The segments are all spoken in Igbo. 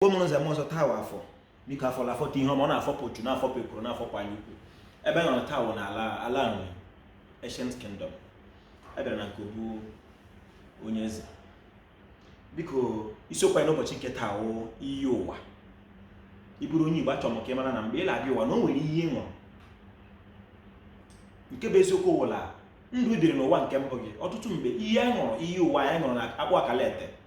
igbo mụrụ nze m ọzọ taa wụ afọ biko afọ na-afọta ihe ọma ọ na-afọpụ uchu na-afọpụ ekworo na-afọpụ anya ukwu ebe m nọ taa wụ na ala ala nri ancient kingdom abịara na nke obu onye eze biko isiokwu anyị n'ụbọchị nke taa wụ iyi ụwa ị bụrụ onye igbo achọrọ m ka ị mara na mgbe ị na-abịa ụwa na o nwere ihe ị ṅụrụ nke bụ eziokwu wụla ndụ dịrị n'ụwa nke mbụ gị ọtụtụ mgbe ihe anyị ṅụrụ iyi ụwa anyị ṅụrụ na akpụ akala ete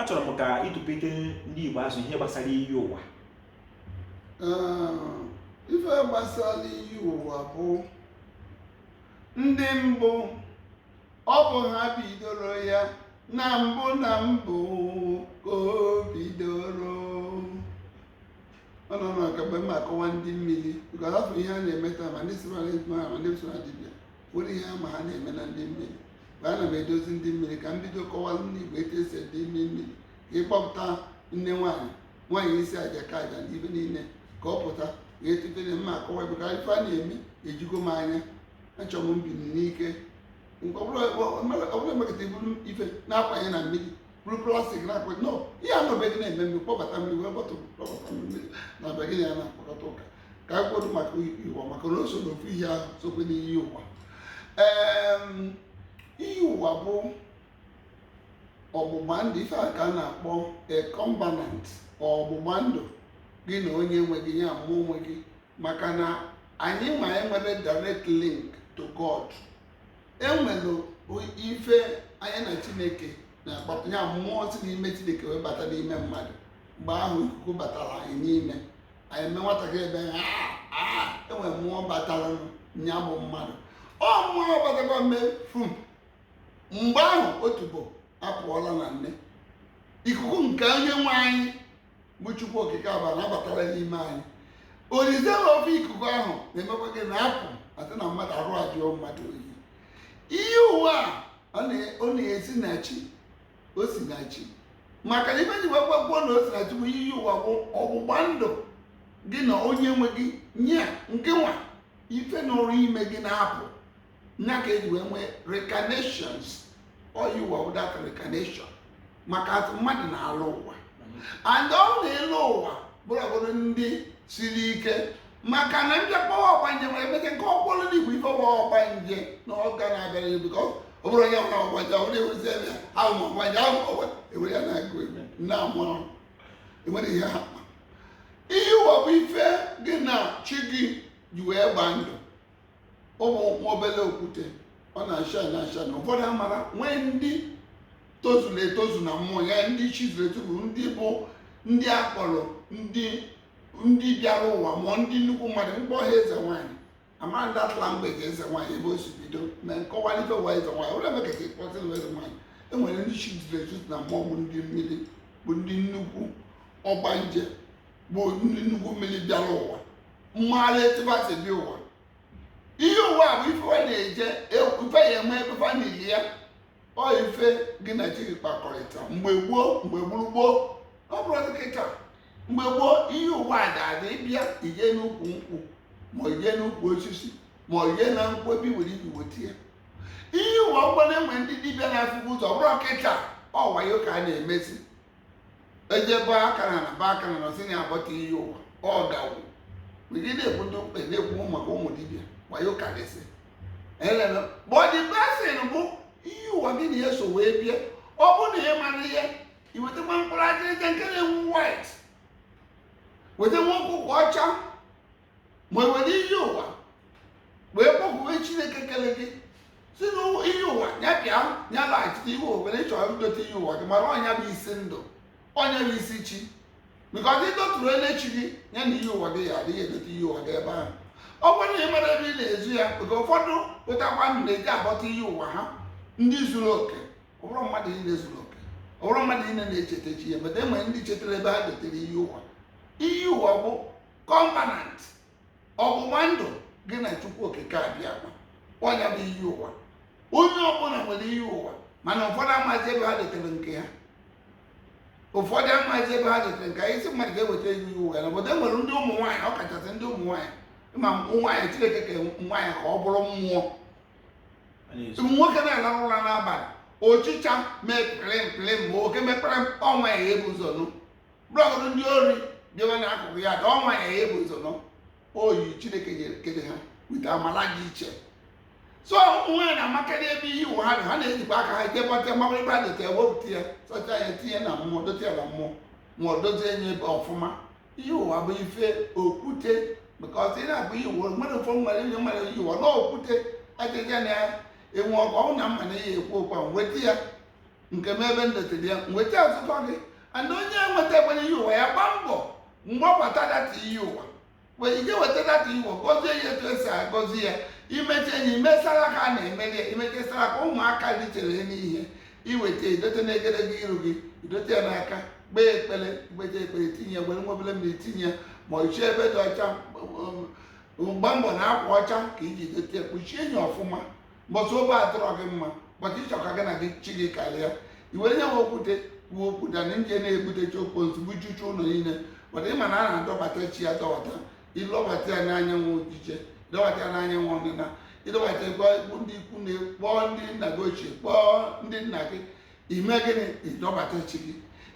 achọrọ m ka ị tụpete ndị Igbo azụ ihe gbasara iyi ụwa ife gbasara iyi ụwa bụ ndị mbụ ọ bụ ha bidoro ya na mbụ na mbụ ka o bidoro ọ nọ na mgbe m akọwa ndị mmiri because afọ ihe a na-eme taa ma ndị sịmara ma ndị sịmara dibịa Nwere ihe ama ha na-eme na ndị mmiri mgbe ana m edozi ndị mmiri ka m bido kọwara ndị Igbo etu esi ede ime mmiri ka ịkpọpụta nne nwaanyị isi aja ka aja na ibe niile ka ọ pụta ga etutere mma akọwa ebe ka ife a na-eme ejigo m anya achọ m mbini n'ike ọbụla emekọta i buru ife na-akwanye na mmiri buru plastic na-akwanye nọ ihe anọbeghị na-eme mmiri kpọbata mmiri wee bọtụ kpọbata mmiri na be gị na ya na-akpọkọta ụka ka anyị kwuo maka iyi ụwa maka na o so n'ofu ihe ahụ sokwe n'iyi ụwa Em, iyi ụwa bụ ọgbụgba ndụ ife a ka a na-akpọ a covenant ọgbụgba ndụ gị na onye nwe gị ya mmụọ nwe gị maka na anyịnwa enwerọ direct link to God enwere ife anyị na Chineke na-akpapụ ya mmụọ si n'ime Chineke wee bata n'ime mmadụ mgbe ahụ ikuku batara anyị n'ime anyị eme nwatakịrị ebe ya enwe mmụọ batara nya bụ mmadụ ọ mmụọ batakwa mee fum mgbe ahụ otubo apụọla na nne ikuku nke onye nwe anyị bụ chukwu okike abịama batara n'ime anyị orize na ofu ikuku ahụ na-emekwa gị na-apụ a sị na mmadụ arụ ajụọ mmadụ oyi iyi ụwa ọ na-esi na chi o si na chi maka na ife m ji weekwa kwuo na o si na chi bụ iyi ụwa bụ ọgbụgba ndụ gị na onye nwe gị nya nke nwa ife na ọrụ ime gị na-apụ nya ka eji wee nwee reincarnations ọ iyi ụwa bụ that reincarnation maka a sị mmadụ na-alọ ụwa and ọ na ịlọ ụwa bụrụ ọbụrụ ndị siri ike maka na ndị kpọwa ọgbanje nwere emete nke ọkpọrọ ndị igbo ife ọgba ọgbanje na ọga na-abịara ya bikọ ọ bụrụ onye nwere ọgbanje ọ na-ewezi ebe ya ahụ ma ọgbanje ahụ ọgba ewere ya na-agụ egwu na amụrụ enwere ihe ha kpọ iyi ụwa bụ ife gị na chi gị ji wee gbaa ndụ ọ bụ nwa obele okwute ọ na-acha na acha na ụfọdụ amara nwee ndị tozuru etozu na mmụọ ya ndị chizuru etozu ndị bụ ndị akpọrọ ndị ndị bịara ụwa mmụọ ndị nnukwu mmadụ mkpọ ha eze nwaanyị amara that language eze nwaanyị ebe o si bido na nkọwa ife ụwa eze nwaanyị ụlọ ebe ka esi kpọta na eze nwaanyị enwere ndị chizuru etozu na mmụọ bụ ndị mmiri bụ ndị nnukwu ọgbanje bụ ndị nnukwu mmiri bịara ụwa mara etu ba si bịa ụwa iyi ụwa bụ ife wa na-eje ife ya eme ebe fa nili ya ọ ife gị na chi gị kpakọrịta mgbe gboo mgbe gburugboo ọ bụrụ kịta mgbe gboo iyi ụwa a ga-adị ịbịa ije n'ukwu nkwụ ma ije n'ukwu osisi ma ije na nkwụ ebe iwere iji weta ya iyi ụwa ọ bụ na e nwe ndị dibịa na-afụbu ụzọ bụrụ kịta ọ wayo ka a na-emezi ejebe aka na na ba aka na nọsị na abọta iyi ụwa ọ gawo mgbe ị na-ekwu ndị mkpe na-ekwu maka ụmụ dibịa wayo karịsị eleme bọdị pesin bụ iyi ụwa gị na ya so wee bịa ọ bụ na ị mara ihe i wetakwa mkpụrụ ajịrịja nke na-enwu white weta nwa ọkụkọ ọcha ma e were iyi ụwa wee kpọkwuwe chineke kele gị sị na iyi ụwa ya bịa ya laghachite iwe obere chọrọ idote iyi ụwa gị mara ọ nya bụ isi ndụ ọ nya bụ isi chi bikọz ịdọtụrụ ele chi gị ya na iyi ụwa gị ya adịghị edote iyi ụwa gị ebe ahụ ọ bụrụ na ị mara ebe ị na-ezu ya oge ụfọdụ pụtakwa ndị na-eje abọta iyi ụwa ha ndị zuru oke ọ bụrọ mmadụ niile zuru oke ọ bụrọ mmadụ niile na-echeta chi ya but enwe ndị chetara ebe ha dotere iyi ụwa iyi ụwa bụ covenant ọgbụgba ndụ gị na chukwu okike abịa akwa ọ nya bụ iyi ụwa onye ọbụla nwere iyi ụwa mana ụfọdụ amaghịzi ebe ha dotere nke ha ụfọdụ amaghịzi ebe ha dotere nke ha ị sị mmadụ ga-eweta iyi ụwa ya na obodo e nwere ndị ụmụ nwaanyị ọ kachasị ndị ụmụ nwaanyị ma nwaanyị chineke ke nwaanyị ka ọ bụrụ mmụọ nwoke na-alarụ ụra n'abalị ọchịcha mee pịlịm ma oke mee kpere ọ nwaanyị ebu ụzọ nụ ọ bụrụ ndị ori bịawa n'akụkụ ya dị ọ nwaanyị ebu ụzọ nụ ọ ihe chineke nyere kede ha with amala dị iche so nwaanyị na-amakarị ebe iyi ụwa ha dị ha na-ejikwa aka ha je bọta mmanwụ ebe a dote wepụta ya sọcha ya tinye na mmụọ dote ya na mmụọ ma ọ dozie nye ebe ọfụma iyi ụwa bụ ife okwute maka ọtụ ị na-akpọ iyi ụwa nwere ụfọ nwere ihe nwere iyi ụwa na okwute adịghị na ya enwe ọkụ ọnwụ na mma na ihe ekwu okwu a nweta ya nke m ebe m dotere ya nweta azụkọ gị ana onye enweta ekwere iyi ụwa ya gbaa mbọ mgbabata data iyi ụwa wee ike weta data iyi ụwa gọzie ya etu esi agọzi ya imecha enyi imesara ka a na-emeli ya imechasara ka ụmụaka richere n'ihe iweta idote na egedege iru gị idote ya n'aka kpee ekpere kpechaa ekpere itinye were nwa obere mmiri tinye ma ichie ebe dị ọcha gbaa mbọ na akwa ọcha ka iji dote kpuchie enyi ọfụma mbọsị obi adịrọ gị mma but ịchọ ka gị na gị chi gị karịa iwere nye nwe okwute kwuo okwu than ịje na-ebute chi okposi bujuchaa ụlọ niile but ịma na a na-adọbata chi adọbata ịdọbata ya n'anyanwụ ojije ịdọbata ya n'anyanwụ ọdịna ịdọbata ịkpọọ ndị ikwu nne kpọọ ndị nna gị ochie kpọọ ndị nna gị ime gịnị ịdọbata chi gị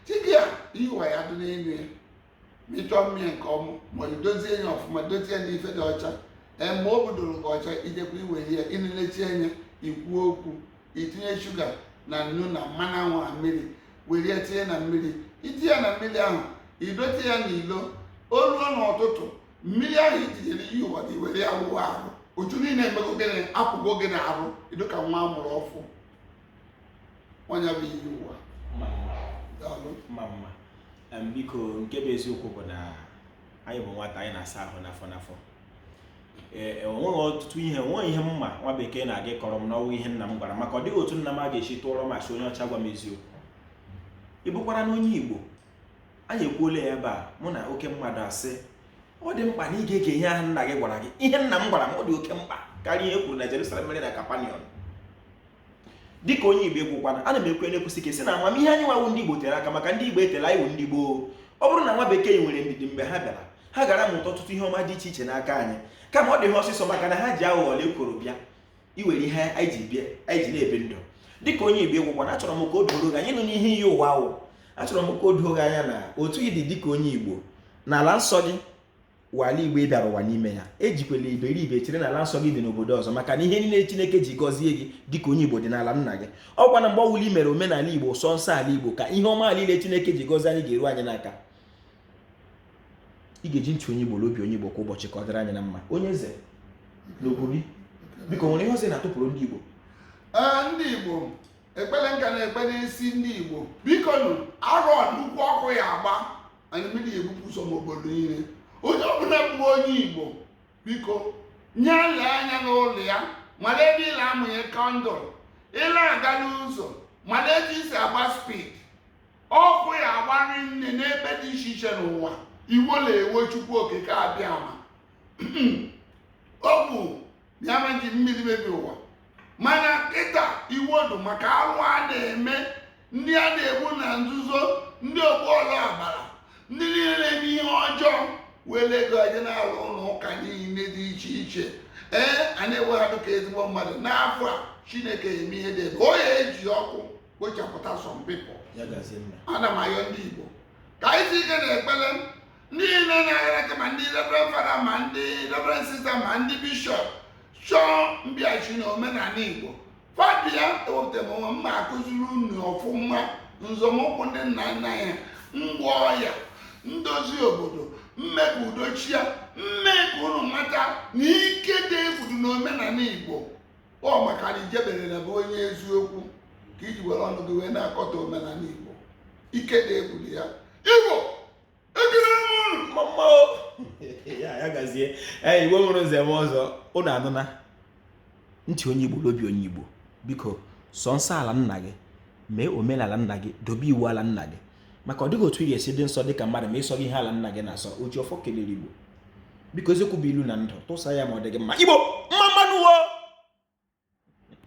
chi gị a iyi ụwa ya dị n'elu ya ma ịchọ mmiri nke ọma ma idozie ya ọfụma dozie ya n'ife dị ọcha ee ma o budoro gị ọcha idekwa iwere ya ịnelechi anya ikwu okwu itinye shuga na nnu na mmanụ anwụ na mmiri were ya tinye na mmiri itinye ya na mmiri ahụ idote ya n'ilo o ruo n'ụtụtụ mmiri ahụ itinyere iyi ụwa gị were ya wụwa arụ uchu niile emego gịnị apụgo gị na arụ ịdị ka nwa a mụrụ ọfụ ọ nya bụ iyi ụwa ma mma daalụ ma mma Em, biko nke bụ eziokwu bụ na anyị bụ nwata anyị na-asa ahụ n'afọ n'afọ ee e, onweghị ọtụtụ ihe onweghị ihe m ma nwa bekee na-aga kọrọ m na ọ wụghị ihe nna m gwara m maka ọ dịghị otu nna m ga-esi tụọrọ m asị onye ọcha gwa m eziokwu ị bụkwara na onye igbo anyị ekwuola ya ebe a mụ na oke mmadụ asị ọ dị mkpa na ị ga-ege ihe ahụ nna gị gwara gị ihe nna m gwara m ọ dị oke mkpa karịa ihe e kwuru na Jerusalem mere na Capernaum dịka onye igbo ị wụkwanụ ana m ekwu na-ekwusi ike si na amamihe anyị nwa wụ ndị igbo tere aka maka ndị igbo eteela anyị wụ ndị gboo ọ bụrụ na nwa bekee nwere ndidi mgbe ha bịara ha gaara amụta ọtụtụ ihe ọma dị iche iche n'aka anyị kama ọ dị ha ọsịsọ maka na ha ji aghụghọ la ekworo bịa iwere ihe anyị ji na-ebi ndụ dịka onye igbo ị wụkwanụ achọrọ m ka o doro gị anya nụ n'ihe iyi ụwa wụ achọrọ m ka o doo gị anya na otu ị dị dịka onye igbo na ala nsọ gị wụ ala igbo ị bịara ụwa n'ime ya ejikwala iberibe chere na ala nsọ gị dị n'obodo ọzọ maka na ihe niile chineke ji gọzie gị dịka onye igbo dị n'ala nna gị ọkwa na mgbe ọwụla i mere omenala igbo sọ nsọ ala igbo ka ihe ọma niile chineke ji gọzie anyị ga-eru anyị n'aka ị ga-eji ntị onye igbo obi onye igbo kwa ụbọchị ka ọ dịrị anyị na mma onye eze n'obodo biko nwere ihe ọzọ na-atụpụrụ ndị igbo ndị igbo ekpere m ka na-ekpe n'isi ndị igbo biko nụ arọ nnukwu ọkụ ya agba anyị mmiri ebupụ ụzọ n'obodo niile onye ọbụla bụ onye igbo biko nya lee anya n'ụlọ ya mara ebe ị la-amụnye kandụl ị la-aga n'ụzọ mara etu i si agba speed ọkụ ya-agba rinne n'ebe dị iche iche n'ụwa iwe na-ewe chukwu okike abịama ọ bụ ya ma ji mmiri mebi ụwa mana kịta iwe dụ maka arụ a na-eme ndị a na-egbu na nzuzo ndị ogbu ọla agbara ndị niile na-eme ihe ọjọọ were ego aje na-alụ ụlọ ụka niile dị iche iche ee a na-ewe ha dịka ezigbo mmadụ n'afọ a chineke eme ihe dị egwu ọ ya-eji ọkụ kpochapụta some people ana m ayọ ndị igbo ka anyị si ike na-ekpere ndị niile na-agara aka ma ndị reverend fada ma ndị reverend sista ma ndị bishọp chọọ mbịachi na omenala igbo fa bịa ewepụta m onwe m ma akụziri unu ọfụma nzọmụkwụ ndị nna nna ya ngwọ ọya ndozi obodo m mee ka udo chịa m mee ka unu mata na ike dị egwu dị n'omenala igbo ọ maka na ijeberela bụ onye eziokwu ka i ji were ọnụ gị wee na-akọtọ omenala igbo ike dị egwu dị ya igbo ee igbo mụrụ nze mụọ ọzọ ụnụ anụna ntị onye igbo n'obi onye igbo biko sọ nsọ ala nna gị mee omenala nna gị dobe iwu ala nna gị maka ọ dịghị otu ị ga-esi dị nsọ dịka mmadụ ma ị sọghị ihe ala nna gị na-asọ oji ọfọ kelere igbo biko eziokwu bụ ilu na ndụ tụsa ya ma ọ dị gị mma igbo mma mma nụ o